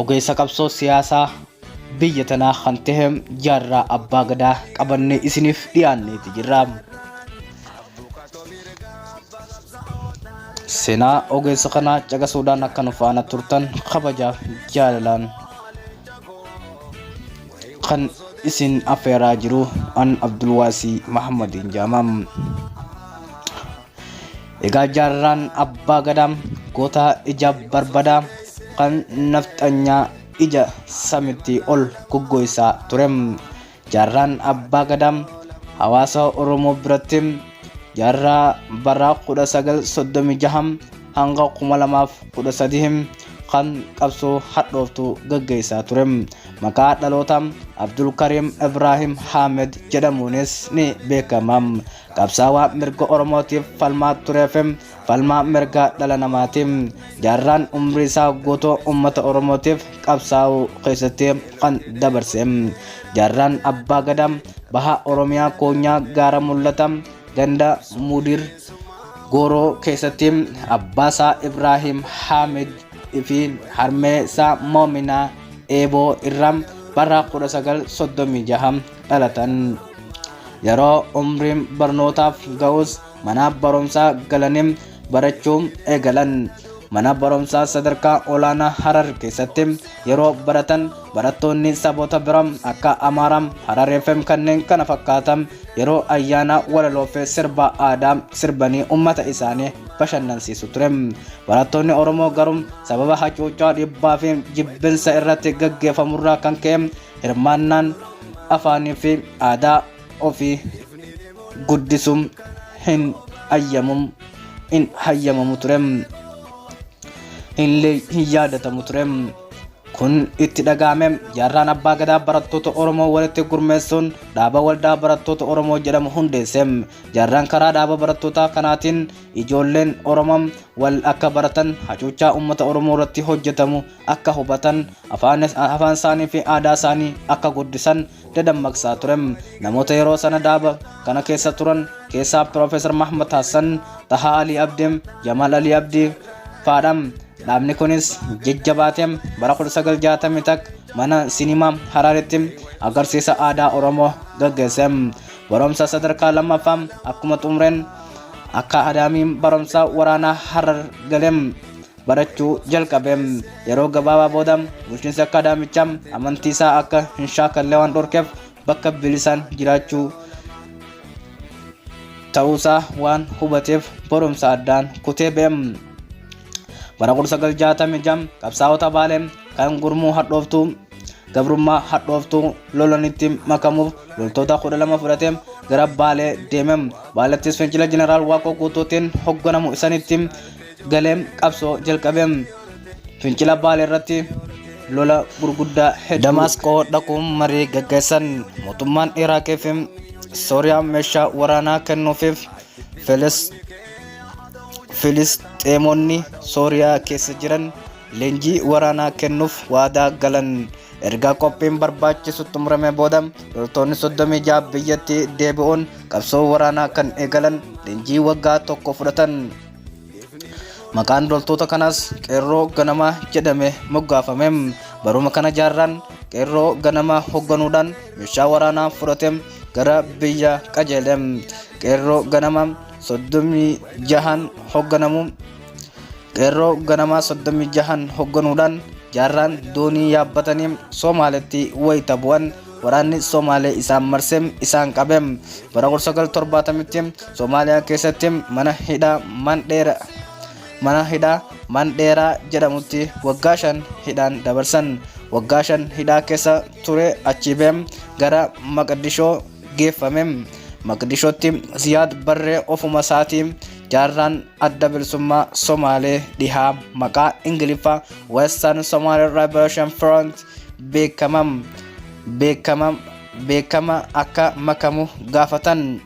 ogeessa qabsoo siyaasaa biyya tanaa kan tahe jaarraa abbaa gadaa qabannee isiniif dhiyaanneeti jirra. Seenaa ogeessa kanaa caqasuudhaan akka nu faana turtan kabajaaf jaalalaan kan isin affeeraa jiru an Abdulwaasii Mahammadiin jaamam. Egaa jaarraan abbaa gadaa goota ija barbadaa kan nafxanyaa ija samitti ol goggoysaa ture. Jaarraan abbaa gadaa hawaasa Oromoo biratti jaarraa baraa 1936 hanga 2013 kan qabsoo hadhooftu gaggeessaa ture. Maqaa dhaloota Abdulkariim Ibraahim Haamed jedhamuunis ni beekama. qabsaawaa mirga oromootiif falmaa turee fi falmaa mirga dhala namaati jaarraan umrii isaa guutuu ummata oromootiif qabsaa'uu keessatti kan dabarse jaarraan abbaa gadaa baha oromiyaa koonyaa gaara mul'ata ganda mudir gooroo keessatti abbaa isaa ibraahim haamid fi harmee isaa moominaa eeboo irraa bara 1936 dhalatan yeroo umriin barnootaaf ga'us mana barumsaa galanii barachuu eegalan mana barumsaa sadarkaa olaanaa harar keessatti yeroo baratan barattoonni saboota bira akka amaaraa hararii fi kanneen kana fakkaatan yeroo ayyaanaa walaloo fi sirba aadaa sirbanii ummata isaanii bashannansiisu ture barattoonni oromoo garuu sababa hacuuccaa dhibbaa fi jibbinsa irratti gaggeeffamurraa kan ka'e hirmaannaan afaanii fi aadaa ofii guddisuu hin hayyamum hin hayyamamu ture illee hin yaadatamu ture kun itti dhaga'ame jaarraan abbaa gadaa barattoota oromoo walitti gurmeessuun dhaaba waldaa barattoota oromoo jedhamu hundeesse jaarraan karaa dhaaba barattootaa kanaatiin ijoolleen oromoo wal akka baratan hacuuccaa uummata oromoo irratti hojjetamu akka hubatan afaan afaan isaanii fi aadaa isaanii akka guddisan dadammaqsaa ture namoota yeroo sana daaba kana keessa turan keessaa piroofeesar mahmud hassan tahaa alii abdii jamaal alii abdii faadha dhaabni kunis jajjabaatee bara 1960 takka mana sinimaa haraaritti agarsiisa aadaa oromoo gaggeesse barumsa sadarkaa lammaffaa akkuma xumureen akka adaamii barumsa waraanaa harar galee barachuu jalqabe. Yeroo gabaabaa booda bulchiinsi akkaadaamichaa amantii isaa akka hin shaakalle waan dhorkeef bakka bilisaan jiraachuu ta'uusaa waan hubateef barumsa addaan kutee ba'e. Bara 1966 qabsaa'ota Baalee kan gurmuu hadhooftuu gabrummaa hadhooftuu lolanitti makamuuf loltoota 12 fudhatee gara Baalee deeme. Baalettis fincila Jeneraal Waaqoo Guutuutiin hogganamu isanitti galee qabsoo jalqabe. Fincila Baalee irratti lola gurguddaa hedduu. Damaasqoo dhaquun marii gaggeessan mootummaan Iraaqii fi Sooriyaa meeshaa waraanaa kennuufiif Filis Filisxeemonni Sooriyaa keessa jiran leenjii waraanaa kennuuf waadaa galan. Erga qophiin barbaachisu xumurame booda loltoonni 36 biyyatti deebi'uun qabsoo waraanaa kan eegalan leenjii waggaa tokko fudhatan. Maqaan loltoota kanaas qeerroo ganamaa jedhame moggaafame. Baruma kana jaarraan qeerroo ganamaa hogganuudhaan meeshaa waraanaa fudhatee gara biyya qajeele. Qeerroo ganamaa soddomii jahan hogganamu. Qeerroo ganamaa soddomii jahan hogganuudhaan jaarraan doonii yaabbatanii Soomaaleetti wayita bu'an Waraanni Somaalee isaan marse, isaan qabe. Bara 1970tti Somaaliyaa keessatti mana hidhaa Mandheera mana hidhaa Mandheeraa jedhamutti waggaa shan hidhaan dabarsan. Waggaa shan hidhaa keessa ture achii ba'e gara Maqdishoo geeffame. Maqdishootti Ziyaad Barree ofuma isaatii jaarraan Adda Bilisummaa Somaalee Dhihaa maqaa Ingiliffaa Western Somali Liberation Front beekamam beekamam beekama akka makamu gaafatan.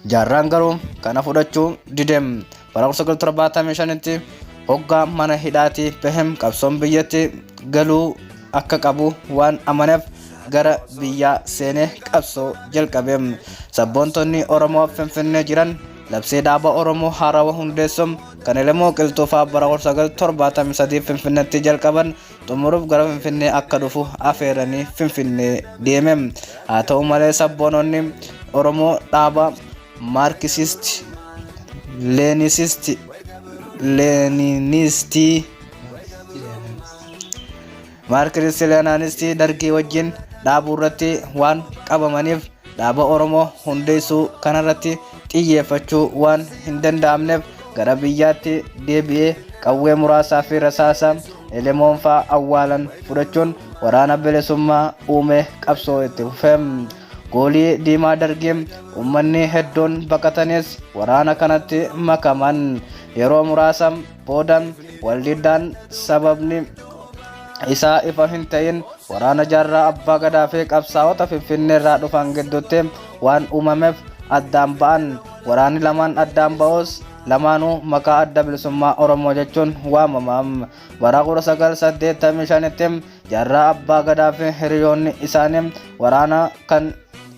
Jaarraan garuu kana fudhachuu didem bara 1975tti hoggaa mana hidhaatii bahem qabsoon biyyatti galuu akka qabu waan amaneef gara biyyaa seenee qabsoo jalqabe. Sabboontonni Oromoo Finfinnee jiran Labsii dhaaba Oromoo haarawa hundeessuun kan Elemoo Qilxuufaa bara 1973 Finfinneetti jalqaban xumuruuf gara Finfinnee akka dhufu afeeranii Finfinnee deeme. Haa ta'u malee sabboononni Oromoo dhaaba Maarkisisti, Leenisisti, Leeniniistii, Maark Risileenaanistii Dargii wajjin dhaabuurratti waan qabamaniif dhaaba Oromoo hundeessuu kanarratti xiyyeeffachuu waan hin danda'amneef gara biyyaatti deebi'ee qawwee muraasaa fi rasaasa elemoonfaa awwaalan fudhachuun waraana bilisummaa uume qabsoo itti fufe. Goolii diimaa dargii uummanni hedduun baqatanis waraana kanatti makaman yeroo muraasa booda waldiddaan sababni isaa ifa hin ta'in waraana jaarraa abbaa gadaa fi qabsaa'ota finfinneerraa dhufan gidduutti waan uumameef addaan ba'an waraanni lamaan addaan ba'us lamaanuu maqaa adda bilisummaa oromoo jechuun waamama bara 1985tti jaarraa abbaa gadaa fi hiriyoonni isaanii waraana kan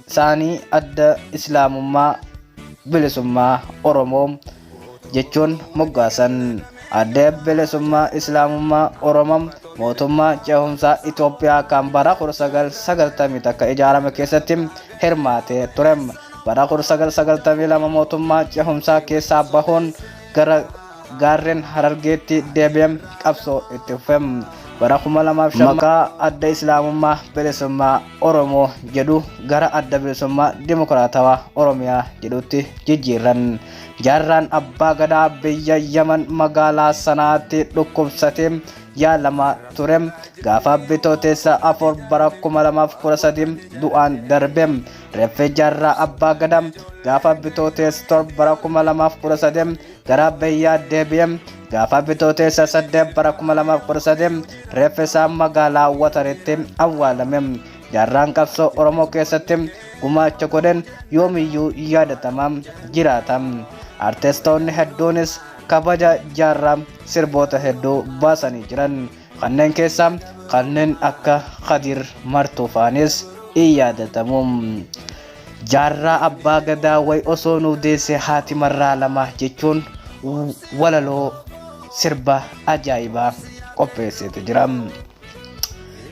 isaanii adda islaamummaa Bilisummaa Oromoo jechuun moggaasan. Adda Bilisummaa Islaamummaa Oromoo mootummaa ce'umsaa Itoophiyaa kan bara 1991 ijaarame keessatti hirmaatee ture. Bara 1992 mootummaa ce'umsaa keessaa bahuun gara gaarreen harargeetti deebi'ee qabsoo itti fufe bara 2005 maqaa adda islaamummaa bilisummaa oromoo jedhu gara adda bilisummaa dimokiraatawaa oromiyaa jedhutti jijjiirran jaarraan abbaa gadaa biyya yaman magaalaa sanaatti dhukkubsatee yaalamaa ture gaafa bitooteessa afur bara 2013 du'aan darbe Reffe Jaarraa Abbaa Gadaa gaafa bitooteessa torba bara 2013 gara biyyaa deebi'e gaafa bitooteessa 8 bara 2013 reffe isaa magaalaa Wataritti awwaalame. Jaarraan qabsoo Oromoo keessatti gumaacha godhen yoomiyyuu yaadatama jiraata. Artistoonni hedduunis kabaja jaarraa sirboota hedduu baasanii jiran. Kanneen keessaa kanneen akka Kadir Martuu faanis in yaadatamu. Jaarraa Abbaa Gadaa way osoo nuu deesse haati marraa lama jechuun walaloo sirba ajaa'ibaa qopheesseetu jira.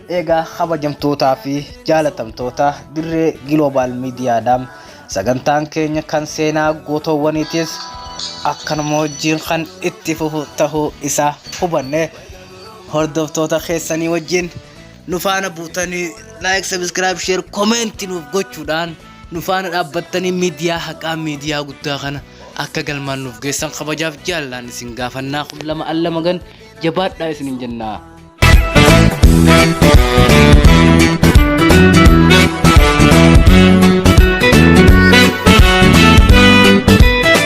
Eegaa kabajamtootaa fi jaalatamtoota dirree Giloobaal Miidiyaadha. Sagantaan keenya kan seenaa gootoowwaniitis akkanuma wajjin kan itti fufu tahuu isaa hubanne hordoftoota keessanii wajjin nu faana buutanii laayik sabiskiraayib sheer komeenti nuuf gochuudhaan nu faana dhaabbattanii miidiyaa haqaa miidiyaa guddaa kana akka galmaan nuuf geessan kabajaaf jaallaan isin gaafannaa kun lama al lama gan jabaadhaa isinin jennaa.